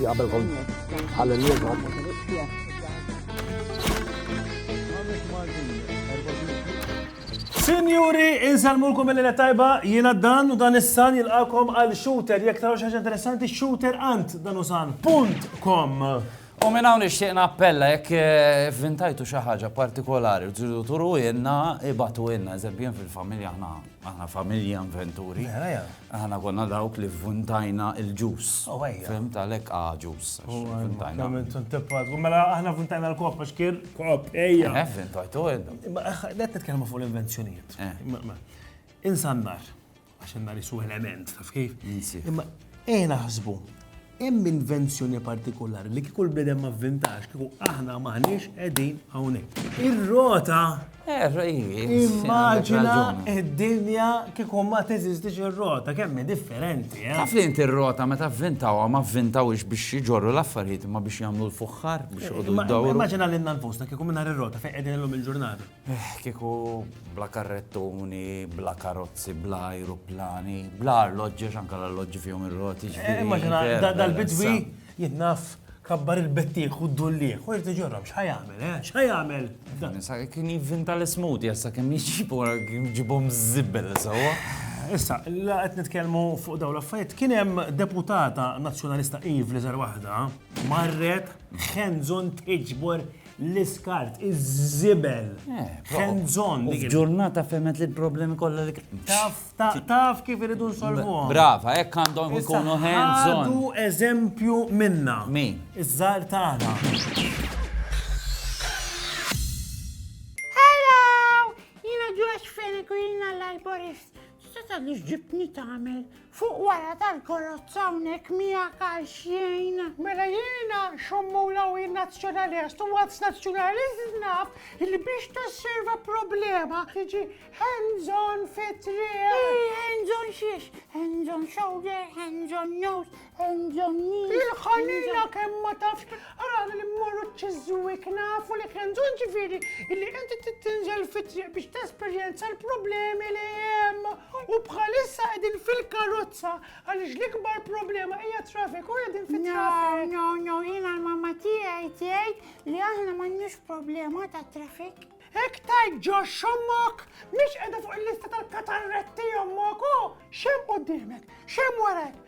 Qabel kont għal-lieba. Sinjuri, insalmulkom mill lena tajba, jiena dan u dan is-san jilqakom għal shooter, jek taraw xaġa interessanti, shooter ant dan u san. Punt kom. U minn hawn nixtieq nappella jekk vvintajtu xi ħaġa partikolari u tridu turuhielna, ibgħatuhielna. Eżempju jien fil-familja aħna aħna familja inventuri. Aħna konna dawk li vvuntajna l-ġus. Fimt għalhekk ah ġus. Mela aħna vvuntajna l-kopp għax kien kopp ejja. Eh vvintajtuha intom. Qed nitkellmu fuq l-invenzjonijiet. Insa n-nar. għax għandna nisu element, taf kif? Imma eh naħsbu, hemm invenzjoni partikolari li kieku l-bnedem ma vintax, kieku aħna maħniex qegħdin hawnhekk. Ir-rota eh, Immaġina id-dinja kieku ma teżistix ir-rota, kemm differenti. Eh? Taf li inti r-rota meta vvintaw ma vvintawx biex jiġorru l-affarijiet ma biex jagħmlu l-fuħħar biex jgħodu d-dawru. Immaġina l-inna nfusna kieku minna ir-rota fejn qegħdin illum il-ġurnata. Eħ, kieku bla karrettuni, bla karozzi, bla ajruplani, bla arloġġi, għax anka l-arloġġi fihom ir-roti. Eh, immaġina, dal-bidwi jinnaf kabbar il-bettieħ u d-dullieħ, u jirti ġorrom, xħajamel, eh? xħajamel. Nisa, kien jivvinta l-ismut, jessa kem jġibu, jġibom zibbel, sawa. Issa, la qed nitkellmu fuq daw l-affarijiet, kien hemm deputata nazzjonalista Eve li żar waħda marret ħenżon tiġbor L-iskart, iż-żibel, hands on. Ġurnata femet li l-problemi kollha li Taf, taf kif iridu nsolvuhom. Brava, hekk għandhom ikunu hands on. Għadu eżempju minna. Min? Iż-żar tagħna. Hello! Jiena Josh Fennegrina l-arborist. Tista' tgħidli x'ġibtni tagħmel Fuq wara tal-korozza hawnhekk miegħek għal xejn. Mela jiena xommula u jien nazzjonalest u once nazzjonalist naf li biex tosserva problema tiġi hands on fit-triq. Ej, hands on xiex, hands on shoulder, hands on nose, hands on knee. Il-ħanina kemm ma tafx għal li mmorru ċiżwik nafu li hands on ġifieri illi inti tinżel fit-triq biex tesperjenza l-problemi li hemm. U bħalissa qegħdin fil-karozza għaliex l-ikbar problema hija traffic u qegħdin fit-traffic. No, no, no, jiena l-mamma tiegħi tgħid li aħna m'għandniex problema ta' traffic. Hekk tajt ġo xommok, mhix qiegħda fuq il-lista tal-katarretti ommok, u xem qudiemek, xem warek,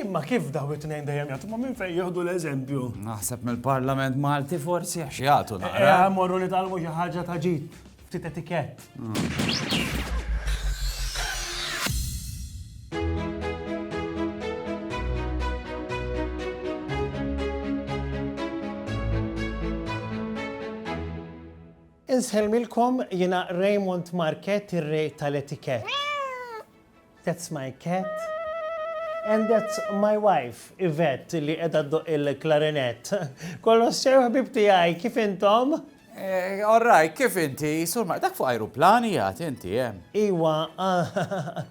Imma kif daw it-tnejn dejjem jagħtu ma' minn fejn jieħdu l-eżempju? Naħseb mill-Parlament Malti forsi għax jagħtu naqra. Eh, morru nitalmu xi ħaġa ta' ġid, ftit etikett. Insħelmilkom jina Raymond Market ir-rej tal-etikett. That's my cat and that's my wife, Yvette, li qiegħda ddoqq il-klarinett. Kolossew ħbib tiegħi, kif intom? Eh, all right, kif inti, sur ma dak fuq aeroplani jgħat inti, eh? Iwa, ah,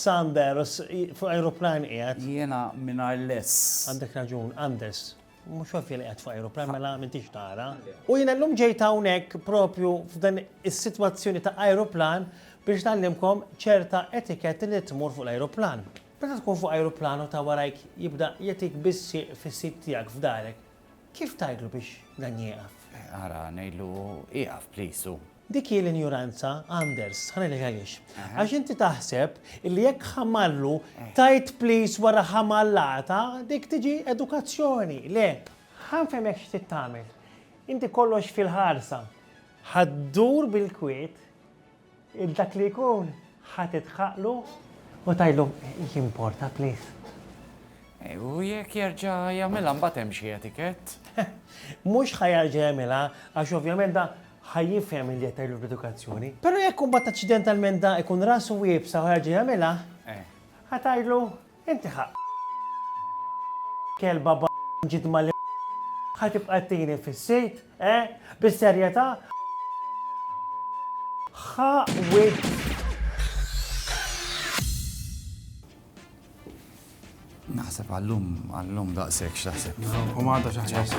Sanders, fuq aeroplani jgħat. Jena minna l-less. Għandek raġun, Anders. Mhux ovvja li qed fuq ajruplan mela m'intix tara. U jiena llum ġejt hawnhekk propju f'dan is-sitwazzjoni ta' ajruplan biex nagħllimkom ċerta etiketti li tmur fuq l-ajruplan. Meta tkun fuq ajruplan u ta' warajk jibda jagħtik bis-sieq fis-sit tiegħek f'darek, kif tgħidlu biex dan jieqaf? Ara, ngħidlu ieqaf please u. Dik hi l-injuranza, Anders, ħa ngħidlek għaliex. Għax inti taħseb li jekk ħamallu tajt please wara ħamallata, dik tiġi edukazzjoni. Le, ħa nfehmek x'trid tagħmel. Inti kollox fil-ħarsa. Ħa ddur bil-kwiet il dak li jkun ħa tidħaqlu u tajlu jimporta please. Eh, u jekk jerġa' jagħmilha mbagħad hemm xi etikett? Mhux ħa jerġa' jagħmilha għax ovvjament da ħa jifhem li qed tgħidlu bl-edukazzjoni. Però jekk imbagħad aċċidentalment da jkun rasu iebsa u jerġa' jagħmilha, ħa tgħidlu, Inti ħa kelba b' ġid mal ħa tibqa' ttini fis-sit, eh? Bis-serjetà? Ħa wiċċ. Naħseb għallum, għallum daqshekk x'taħseb. U m'għadha xi ħaġa.